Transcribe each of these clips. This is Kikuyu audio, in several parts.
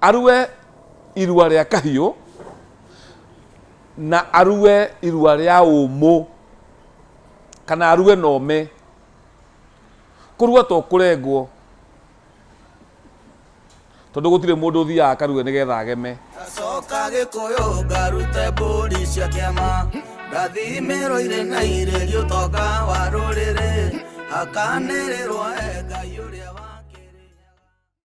Arue irua rĩa kahiũ na arue irua rĩa ũmũ kana arue na ũme kũrua to kũrengwo tondũ gũtirĩ mũndũ ũthiaga akarue nĩgetha ageme Coka gĩkũyũ ngarute mbũri cia kĩama Ngathimĩrwo irĩ na irĩ gĩũtonga wa rũrĩrĩ Hakanĩrĩrwo e Ngai ũrĩa wa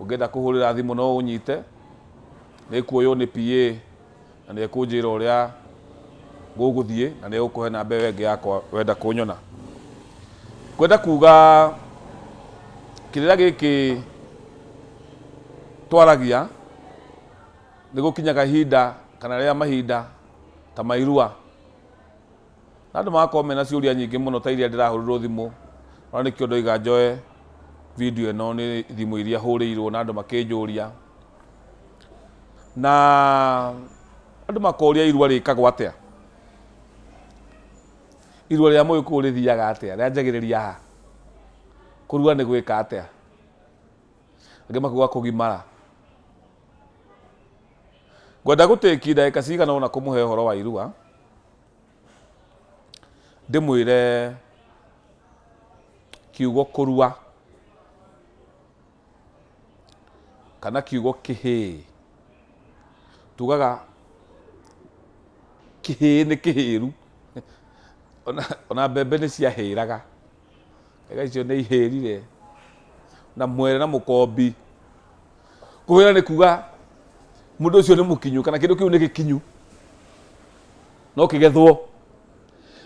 Ũngĩenda kũhũrĩra thimũ no ũnyite, nĩ ĩkuoywo nĩ PA na nĩ ekũnjĩra ũrĩa ngũgũthiĩ na nĩ egũkũhe namba ĩyo ĩngĩ yakwa wenda kũnyona. Ngwenda kuga kĩrĩra gĩkĩ twaragia nĩ gũkinyaga ihinda kana rĩrĩa mahinda ta ma irua. Na andũ magakorwo mena ciũria nyingĩ mũno ta iria ndĩrahũrĩrwo thimũ, ona nĩkĩo ndoiga njoe video ĩno nĩ thimũ iria hũrĩirwo na andũ makĩnjũria. Na andũ makoria irua rĩkagwo atĩa? Irua rĩa Mũgĩkũyũ rĩthiaga atĩa? Rĩanjagĩrĩria ha? Kũrua nĩ gwĩka atĩa? Angĩ makiuga kũgimara. Ngwenda gũtĩki ndagĩka cigana ũna kũmũhe ũhoro wa irua, Ndĩmwĩre kiugo kũrua kana kiugo kĩhĩĩ. Tugaga kĩhĩĩ nĩ kĩhĩru, ona mbembe nĩ ciahĩraga. ega icio nĩ ihĩrire na mwere na mũkombi kũhĩra nĩ kuga mũndũ ũcio nĩ mũkinyu kana kĩndũ kĩu nĩ gĩkinyu no kĩgethwo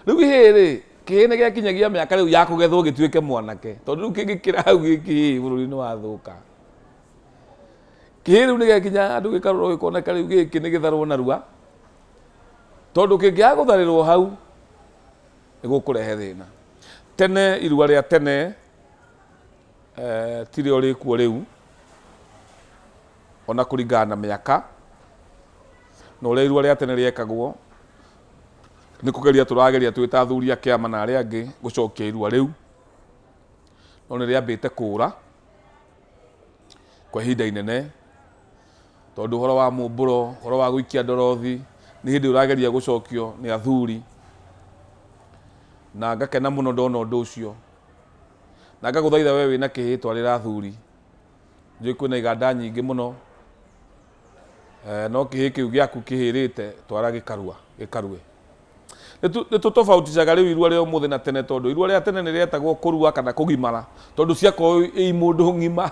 rĩu ihĩĩ rĩ kĩhĩĩ nĩ gĩakinyagia mĩaka rĩu ya kũgethwo gĩtuĩke mwanake tondũ rĩu kĩngĩkĩra hau gĩkĩ bũrũri nĩ wathũka kĩhĩĩ rĩu nĩ gĩakinya andũ gĩkarorwo gĩkoneka rĩu gĩkĩ nĩ gĩtharwo narua tondũ kĩngĩaga gũtharĩrwo hau nĩgũkũrehe thĩna. Tene irua rĩa tene eh, tirĩo rĩkuo rĩu ona kũringana na mĩaka na ũrĩa irua rĩa tene rĩekagwo nĩ kũgeria tũrageria twĩ ta athuri a kĩama na arĩa angĩ gũcokia irua rĩu no nĩ rĩambĩte kũũra kwa ihinda inene, tondũ ũhoro wa mũmbũro, ũhoro wa gũikia ndorothi, nĩ hĩndĩ ũrageria gũcokio nĩ athuri, na ngakena mũno ndona ũndũ ũcio, na ngagũthaitha we wĩna kĩhĩtwa rĩra athuri, njũĩ kwĩna iganda nyingĩ mũno. Eh, no kĩhĩ kĩu gĩaku kĩhĩrĩte twara gĩkarua gĩkarue nĩ tũtobauticaga rĩu irua rĩa ũmũthĩ na tene tondũ irua rĩa tene nĩ rĩetagwo kũrua kana kũgimara tondũ ciakorwo ĩ mũndũ ng'ima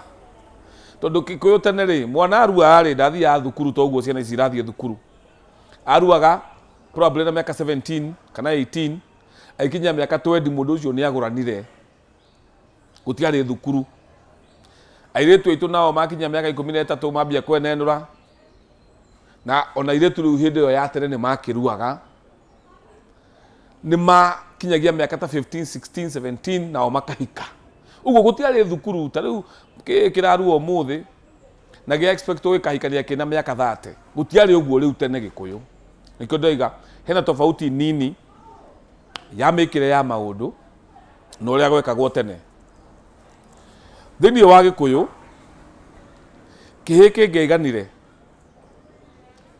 tondũ kĩkũyũ tene rĩ mwana aruaga rĩ ndathiaga thukuru to ũguo ciana ici irathiĩ thukuru aruaga probably na mĩaka 17 kana 18 aikinyia mĩaka 20 mũndũ ũcio nĩ agũranire gũtiarĩ thukuru airĩtu aitũ nao makinya mĩaka ikũmi na ĩtatũ mambia kwenenũra na ona airĩtu rĩu hĩndĩ ĩyo ya tene nĩ makĩruaga nĩ makinyagia mĩaka ta 15 16 17 nao makahika ũguo gũtiarĩ thukuru ta rĩu kĩĩ kĩrarua ũmũthĩ na gĩa expect gĩkahikania kĩna mĩaka 30 gũtiarĩ ũguo rĩu tene gĩkũyũ nĩkĩo ndoiga hena tofauti nini ya mĩkĩre ya maũndũ na ũrĩa gwekagwo tene. Thĩinĩ wa Gĩkũyũ, kĩhĩĩ kĩngĩaiganire,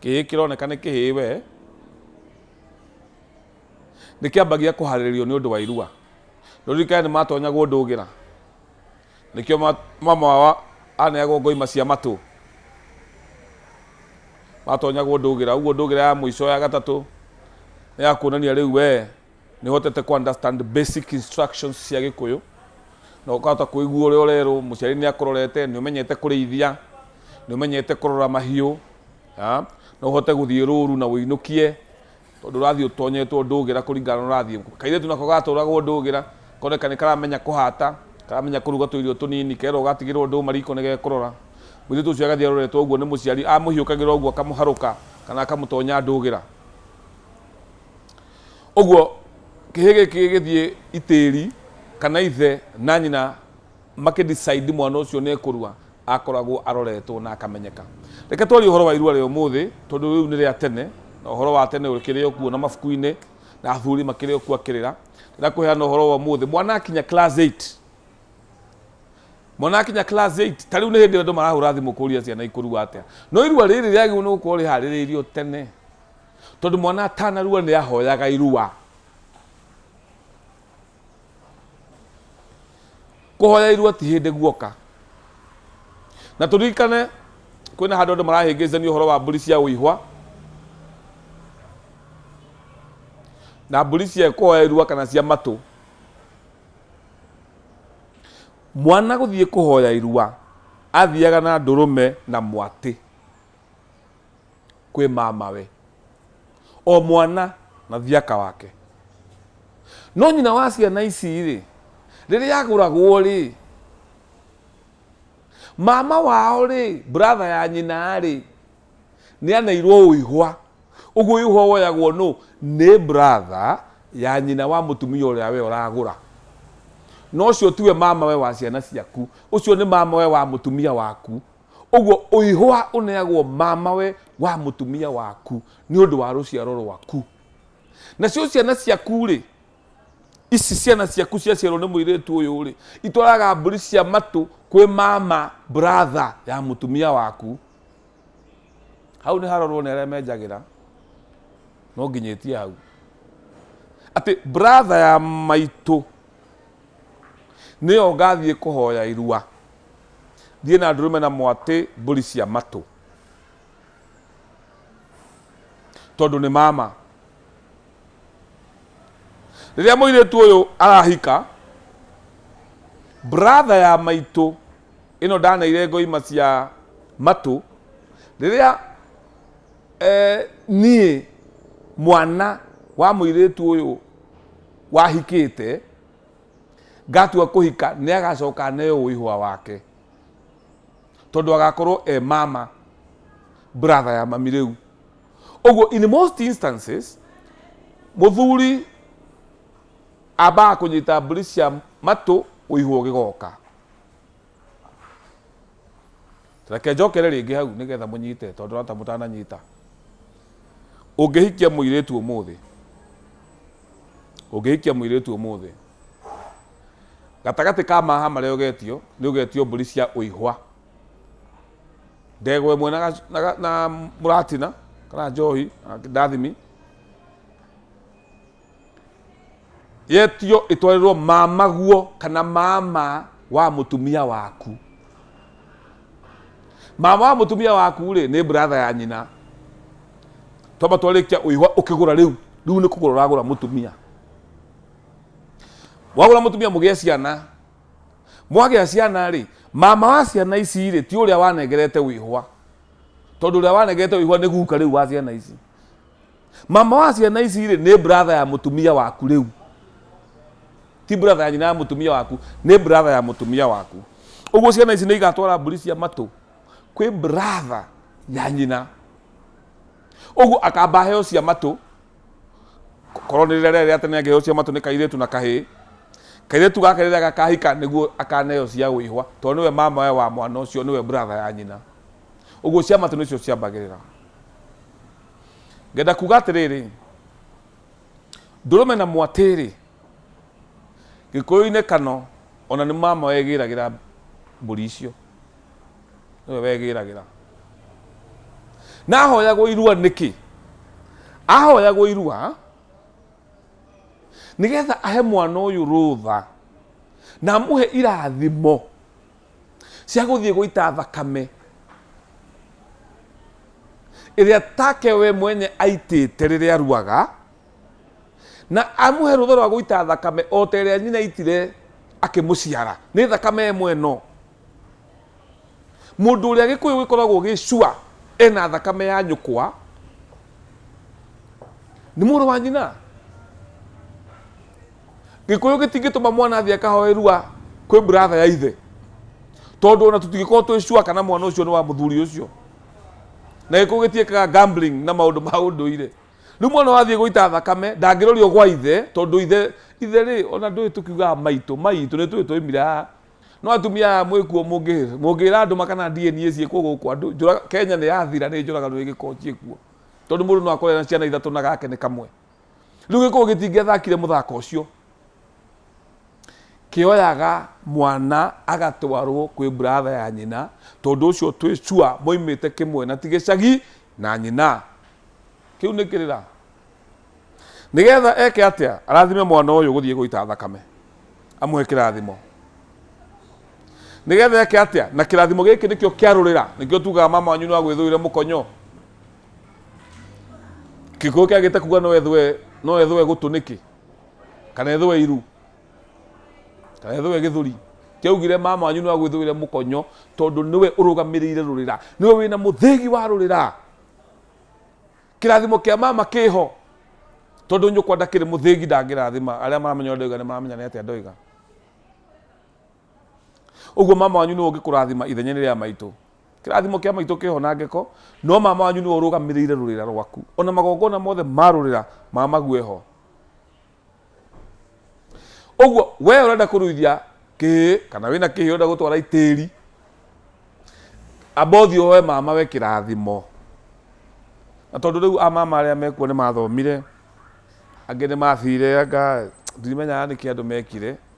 kĩhĩĩ kĩroneka nĩ kĩhĩĩ we, nĩ kĩambagia kũharĩrĩrio nĩ ũndũ wa irua. Nĩ ũririkane nĩ matonyagwo ndũgĩra? Nĩkĩo ma- mamawa aneagwo ngoima cia matũ matonyagwo ndũgĩra ũguo ndũgĩra ya mũico ya gatatũ nĩ ya kuonania rĩu wee nĩ ũhotete ku understand basic instructions cia gĩkũyũ na ũkahota kũigua ũrĩa ũrerwo mũciari nĩ akũrorete nĩ ũmenyete kũrĩithia nĩ ũmenyete kũrora mahiũ ah, no ũhote gũthiĩ rũru na ũinũkie Tondũ ũrathiĩ ũtonyetwo ndũgĩra kũringana na ũrathiĩ. Kairĩtu nako gatwaragwo ndũgĩra, koneka nĩ karamenya kũhata, karamenya kũruga tũirio tũnini, kerwo gatigĩrwo ndũma riko nĩ gekũrora. Mũirĩtu ũcio agathiĩ aroretwo ũguo nĩ mũciari, amũhiũkagĩra ũguo akamũharũka kana akamũtonya ndũgĩra. Ũguo kĩhĩĩ gĩkĩ gĩgĩthiĩ itĩri, kana ithe na nyina. makĩ decide mwana ũcio nĩ ekũrua akoragwo aroretwo na akamenyeka. Reke twarie ũhoro wa irua rĩa ũmũthĩ tondũ rĩu nĩ rĩa tene na ũhoro wa tene ũkĩrĩ o kuo na mabuku-inĩ na athuri makĩrĩ o kuo akĩrĩra. Ndĩrenda kũheana ũhoro wa ũmũthĩ mwana akinya class eight mwana akinya class eight ta rĩu nĩ hĩndĩ andũ marahũra thimũ kũria ciana ikũrua atĩa. No irua rĩrĩ rĩagĩrĩirwo nĩ gũkorwo rĩharĩrĩirio tene tondũ mwana atanarua nĩ ahoyaga irua. kũhoyairwo ti hĩndĩ guoka na tũririkane kwĩna handũ andũ marahĩngĩcania ũhoro wa mbũri cia ũihwa na mbũri cia kũhoyairua kana cia matũ mwana gũthiĩ kũhoya irua athiaga na ndũrũme na mwatĩ kwĩ mamawe o mwana na thiaka wake no nyina wa ciana ici rĩ rĩrĩa agũragwo rĩ mama wao rĩ brother ya nyina rĩ nĩ aneirwo ũihwa ũguo ũihwa woyagwo nũ nĩ brother ya nyina wa mũtumia ũrĩa we ũragũra no ũcio tiwe mamawe wa ciana ciaku ũcio nĩ mamawe wa mũtumia waku Ũguo ũihũha ũneagwo mamawe wa mũtumia waku nĩ ũndũ wa rũciaro rwaku. Nacio ciana ciaku-rĩ, ici ciana ciaku ciaciarwo nĩ mũirĩtu ũyũ-rĩ, itwaraga mbũri cia matũ kwĩ mama, brother, ya mũtumia waku. Hau nĩ harorwo nĩ arĩa menjagĩra, no nginyĩtie hau. Atĩ brother ya maitũ nĩyo ngathiĩ kũhoya irua. Thiĩ na ndũrũme na mwatĩ mbũri cia matũ. Tondũ nĩ mama. Rĩrĩa mũirĩtu ũyũ arahika, bratha ya maitũ ĩno ndaneire ngoima cia matũ, rĩrĩa eh, niĩ mwana wa mũirĩtu ũyũ wahikĩte, Ngatua kũhika nĩ agacoka aneo ũihwa wake. Tondũ agakorwo e mama brother ya mami rĩu. Ũguo in most instances mũthuri ambaga kũnyita mbũri cia matũ ũihwa ũgĩgoka. reke njokere rĩngĩ hau nĩgetha mũnyite tondũ rata mũtananyita ũngĩhikia mũirĩtu ũmũthĩ ũngĩhikia mũirĩtu ũmũthĩ gatagatĩ ka maha marĩa ũgetio nĩ ũgetio mbũri cia ũihwa ndegwa ĩmwe na gac- na ga- na mũratina kana njohi na ndathimi yetio ĩtwarĩrwo mamaguo kana mama wa mũtumia waku mama wa mũtumia waku rĩ nĩ bratha ya nyina twamba twarĩkia ũihwa ũkĩgũra rĩu rĩu nĩ kũgũra ũragũra mũtumia wagũra mũtumia mũgĩe ciana mwagĩa ciana rĩ mama wa ciana ici rĩ ti ũrĩa wanengerete wĩhwa tondũ ũrĩa wanengerete wĩhwa nĩ guka rĩu wa ciana ici mama wa ciana ici rĩ nĩ brother ya mũtumia waku rĩu ti brother ya nyina ya mũtumia waku nĩ brother ya mũtumia waku ũguo ciana ici nĩ igatwara mbũri cia matũ kwĩ brother ya nyina ũguo akamba heo cia matũ korwo nĩ rĩrĩa rĩa tene angĩheo cia matũ nĩ kairĩtu na kahĩĩ kairĩtu gake rĩrĩa gakahika nĩguo akaneo cia gwĩhwa tondũ nĩwe mama we wa mwana ũcio nĩwe brother ya nyina ũguo cia matũ nĩcio ciambagĩrĩra ngenda kuga atĩrĩrĩ ndũrũme na mwatĩrĩ gĩkũyũ-inĩ kano ona nĩ mama wegĩragĩra mbũri icio nĩwe wegĩragĩra na ahoyagwo irua nĩkĩ ahoyagwo irua nĩgetha ahe mwana ũyũ rũtha na amũhe irathimo cia gũthiĩ gũita thakame ĩrĩa take we mwenye aitĩte rĩrĩa aruaga na amũhe rũtha rwa gũita thakame o ta ĩrĩa nyina aitire akĩmũciara nĩ thakame ĩmwe ĩno mũndũ ũrĩa gĩkũyũ gĩkoragwo gĩcua ena thakame ya nyũkwa nĩ mũrũ wa nyina gikuyu gitingituma mwana athi akahoe rua kwi brother ya ithe tondu ona tutingikorwo twi sure kana mwana ucio ni wa muthuri ucio na gikuyu gitiekaga gambling na maundu ma unduire riu mwana wathie guita thakame ndangirorio gwa ithe tondu ithe ithe ri ona ndui tukiugaga maitu maitu ni tui twaimire haha no atumia aya mwikuo mungira andu makana DNA ciikuo guku andu njuraga Kenya ni yathira ni njuragano igikuo ciikuo tondu mundu no akorwo na ciana ithatu na gake ni kamwe rĩu gĩkũyũ gĩtingĩathakire mũthako ũcio kĩoyaga mwana agatwarwo kwĩ buratha ya nyina tondũ ũcio twĩ cua moimĩte kĩmwe na ti gĩcagi na nyina kĩu nĩ kĩrĩra nĩgetha eke atĩa arathime mwana ũyũ gũthiĩ gũita thakame amũhe kĩrathimo nĩgetha eke atĩa na kĩrathimo gĩkĩ nĩkĩo kĩarũrĩra nĩkĩo tugaga mama wanyu nĩ wagwĩthũire mũkonyo gikuyu kiagite kuga no ethwe no ethwe gutu niki kana ethwe iru kana ethwe githuri kiaugire mama wanyu niwa gwithwire mukonyo tondu niwe urugamirire rurira niwe wina muthigi wa rurira kirathimo kia mama kiho tondu nyukwa ndakiri muthigi ndangirathima aria maramenya ndoiga ni maramenya ni atia ndoiga Ũguo mama wanyu nĩwe ũngĩkũrathima ithenyainĩ rĩa maitũ. Kĩrathimo kĩa maitũ kĩho na ngeko, no mama wanyu nĩwe ũrũgamĩrĩire rũrĩra rwaku. Ona magongona mothe ma rũrĩra ma mague ho. Ũguo we ũrenda kũruithia kĩhĩ kana wĩna kĩhĩ ũrenda gũtwara itĩri, amba ũthiĩ ũhoe mama we kĩrathimo. Na tondũ rĩu amama arĩa mekuo nĩ mathomire, angĩ nĩ mathire anga ndimenyaga nĩkĩ andũ mekire.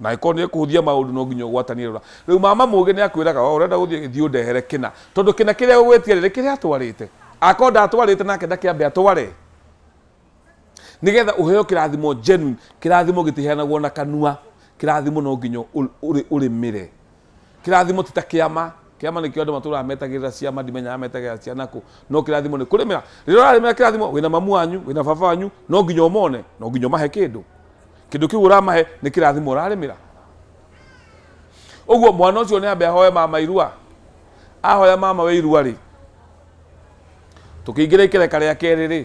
Na angĩkorwo nĩ kũhũthia maũndũ no nginya ũgwatanie rũra. Rĩu mama mũũgĩ nĩ akwĩraga oo ũrenda gũthiĩ thiĩ ũndehere kĩna. Tondũ kĩna kĩrĩa egũgwĩtia rĩ, nĩ kĩrĩa atwarĩte. Angĩkorwo ndatwarĩte nake ndakĩambe atware. Nĩ getha ũheo kĩrathimo genuine. Kĩrathimo gĩtiheanagwo na kanua. Kĩrathimo no nginya ũrĩmĩre. Kĩrathimo ti ta kĩama. Kĩama nĩkĩo andũ matũraga metagĩrĩra ciama, ndimenyaga metagĩrĩra ciana kũ. No kĩrathimo nĩ kũrĩmĩra. Rĩrĩa ũrarĩmĩra kĩrathimo, wĩna mamu wanyu, wĩna baba wanyu, no nginya ũmone, no nginya ũmahe kĩndũ. Kĩndũ kĩu ũramahe nĩ kĩrathimo ũrarĩmĩra. Ũguo mwana ũcio nĩ ambe ahoe mama irua. Ahoya mama we irua rĩ, tũkĩingĩra ikereka rĩa kerĩ rĩ,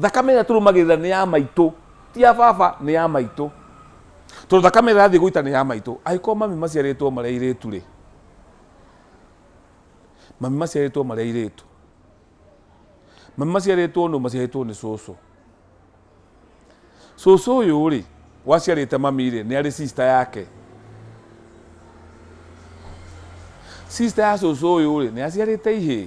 thakame ĩrĩa tũrũmagĩrĩra nĩ ya maitũ ti ya baba nĩ ya maitũ tondũ thakame ĩrĩa yathiĩ gũita nĩ ya maitũ angĩkorwo mami maciarĩtwo marĩa irĩtu rĩ mami maciarĩtwo marĩa irĩtu mami maciarĩtwo nũ maciarĩtwo nĩ cũcũ cũcũ ũyũ rĩ waciarĩte mami rĩ nĩ arĩ sister yake sister ya cũcũ ũyũ rĩ nĩ aciarĩte ihĩĩ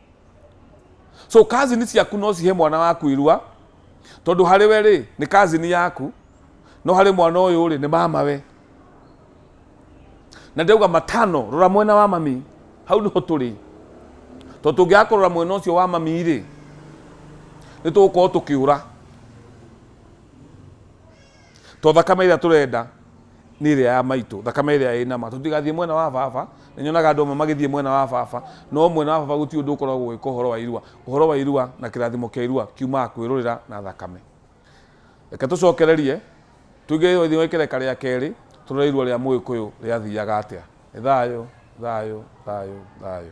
so kazini ciaku no cihe mwana waku irua tondu hari we ri ni kazini yaku no hari mwana uyu ri ni mama we na ndauga matano rora mwena wa mami hau niho turi to tungiakorora mwena ucio wa mami ri ni tugukorwo tukiura To thakame ĩrĩa tũrenda nĩ ĩrĩa ya maitũ, thakame ĩrĩa ĩna ma. Tũtigathiĩ mwena wa baba, nĩ nyonaga andũ amwe magĩthiĩ mwena wa baba, no mwena wa baba gũtirĩ ũndũ ũkoragwo ũgĩka ũhoro wa irua. Ũhoro wa irua na kĩrathimo kĩa irua kiumaga kwĩrũrĩra na thakame. Reke tũcokererie, tũingĩre thĩinĩ wa ikereka rĩa kerĩ, tũrore irua rĩa Mũgĩkũyũ rĩathiaga atĩa. Nĩ thayũ, thayũ, thayũ, thayũ.